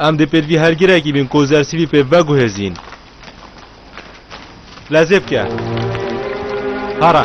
Em dê pêdivî her girekî bin ku zersîvî pê veguhêzîn. Lezê bike. Hara.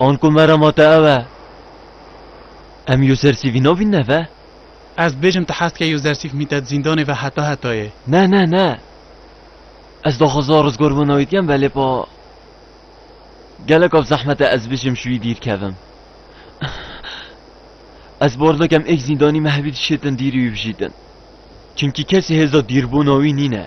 An ku merama te ew e, em Yûzersîfî navîn neve? Ez dibêjim tu hez dikê Yûzersîf mîte di zîndanê ve heta hetayê. Ne, ne, ne. Ez daxwaza rizgarbûna wî dikim belê pa geleka bi zehmet e ez bijim ji wî dîr kevim. Ez bar dikim êk zîndanî me hevî dişêtin dîrî wî bijîtin. Çimkî kesî hêza dîrbûna wî nîne.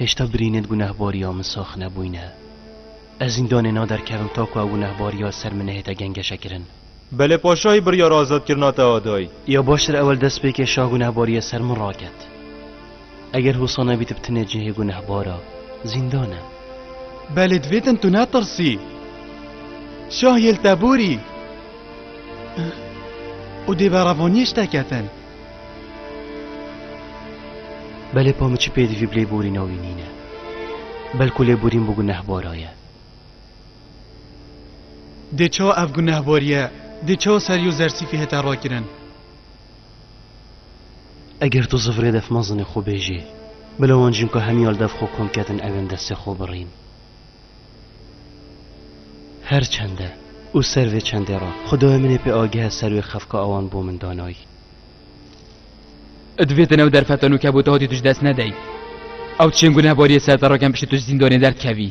Hêşta birînên gunehbariya min sax nebûyne. Ez zîndanê naderkevim ta ku ew gunehbariya li ser min nehête gengeşekirin. Belê paşayî biryara azatkirina te da dayî. Ya baştir ewil destpêkê şah gunehbariya ser min raket. Eger hosa nebî tu bi tine cihê gunehbar a, zîndan e. Belê divê din tu netirsî. Şah yê li te borî. Û dê berevaniyê ji te ketin. Belê pa min çi pêdivî bi lêborîna wî nîne. Belku lêborîn bo gunehbara ye. Dê çawa ev gunehbariye, dê çawa serî û zersîfî hete rakirin. Eger tu zifrê dev mezinê xwe bêjê, bila wan jinka hemî al dev xwe kom kedin ew ên destê xwe birîn. Her çende û ser vê çendê re xwedayê min ê pê agihe ser wê xefka awan bo min danayî. Ê divê di nav derfetan û kebûta hatî tu ji dest nedeyî. Ew çêngû nebariyê ser te re kem piştî tu ji zîndanê derdikevî.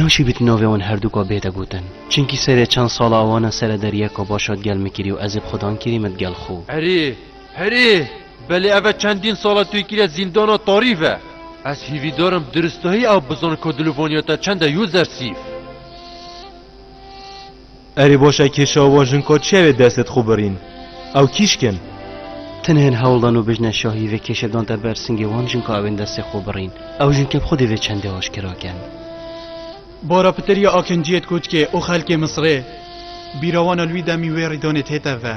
Naşibît navê wan herdûka bête gotin. Çinkî serê çend sala wan e sere deryeka başa digel min kirî û ez ê bi xidan kirî min digel xo. Erê, herê, belê ev e çendîn sal e tu yê kirî zîndana tarî ve. Ez hîvîdar im diristahî ew bizan ka dilûvaniya te çend e yo zersîf. Erê boşa kêşa wan jinka çiya wê destê dixwe birîn. Ew kîşk in. Tenhên hewl dan û bijne şahî vê kêşe dante ber singê wan jinka ew ên destê xwe birîn. Ew jin kêm xwedî vê çendê aşkera kin. Bara pitir ya Akinciyê dikotkê û xelkê Misrê bîra wan a li wî demî wê rîdanê tête ve.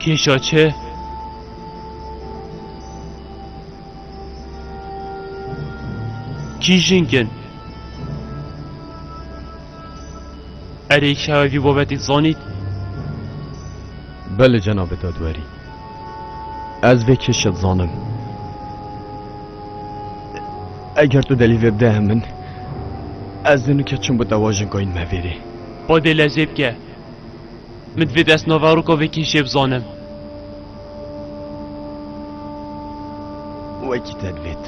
Kêşa çi? Kî jink in? Erê kişewe vî babetê dizanît? Belê cenabê dadwerî. Ez vê kêşa dizanim. Eger tu delîl vê bide hemin, ez nûke çûm bi dewa jinkayî nimevêrê. Xwedê lezê bike. Min divê destnava Rûkovekî jê bizanim. Wekî te divêt.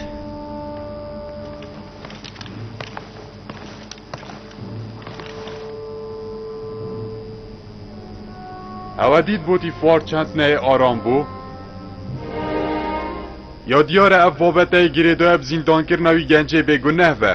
Ewe dît botî fuar çend neyê aram bû. Ya diyar e ev babeteyê girêdayê bi zîndankirina wî gencê bêguneh be.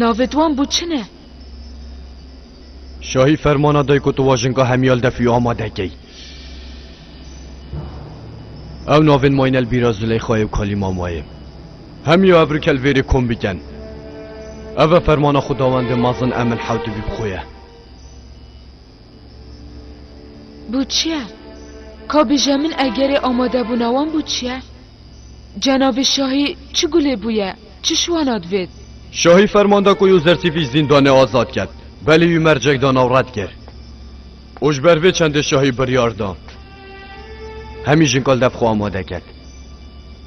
Navê di wan bû çi ne? Şahî fermana day ku tu wajinka Hemyal Defî amade key. Ew navên Maynel Bîra Zileyxayê û Kalî Mamayê. Hemya ev rikel vêrê kom biken. Ev e fermana xwedawendê mezin Emil Hewtibî bi xwe ye. Bû çi ye? Ka bije min egerê amadebûna wan bû çi ye? Cenabê şahî çi gulê bûye, çi şiwana divêt? Şahî ferman da ku Yûzersîfî ji zîndanê azad ket, belê wî mercek dan ew red kir. Û ji ber vê çendê şahî biryar da hemî jinkal dev xwe amade ket.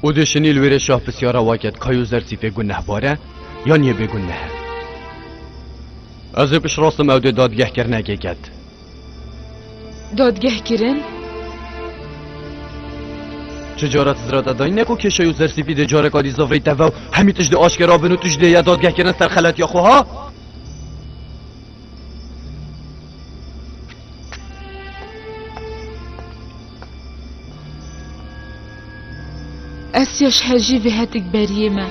Û dê şinî li wêrê şah pisyara wa ket ka Yûzersîfê gunehbar e yan yê bêgunnehe. Ez ê piştrastim ew dê dadgehkirinekê ket. Dadgeh kirin? Çi cara tizrata dayîn ne ku kêşeyo sersîfî dê careka dî zafreyî teve û hemî tişt dê aşkera bin û tu jî dê ya dadgeh kirin ser xeletiya xwe ha? Ez yaş hejî vê hetik beriyê me.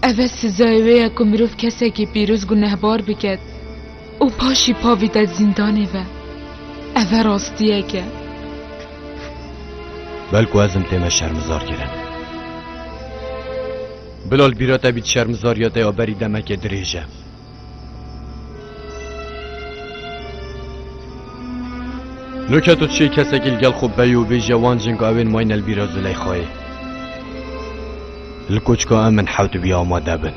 Ev e sizayê wê ye ku mirov kesekî pîroz gunehbar biket û paşî pavîte zîndanê ve. Ev e rastiyek e. Bel ku ez im tê me şermizar kirin. Bilal bîra te bît şermizariya te ya berî demekê dirêj e. Nuke tu çi kesekî li gel xwe bey û bêje wan cinga wên may ne li bîra Zileyxayê. Li koçka em min hewt bî amade bin.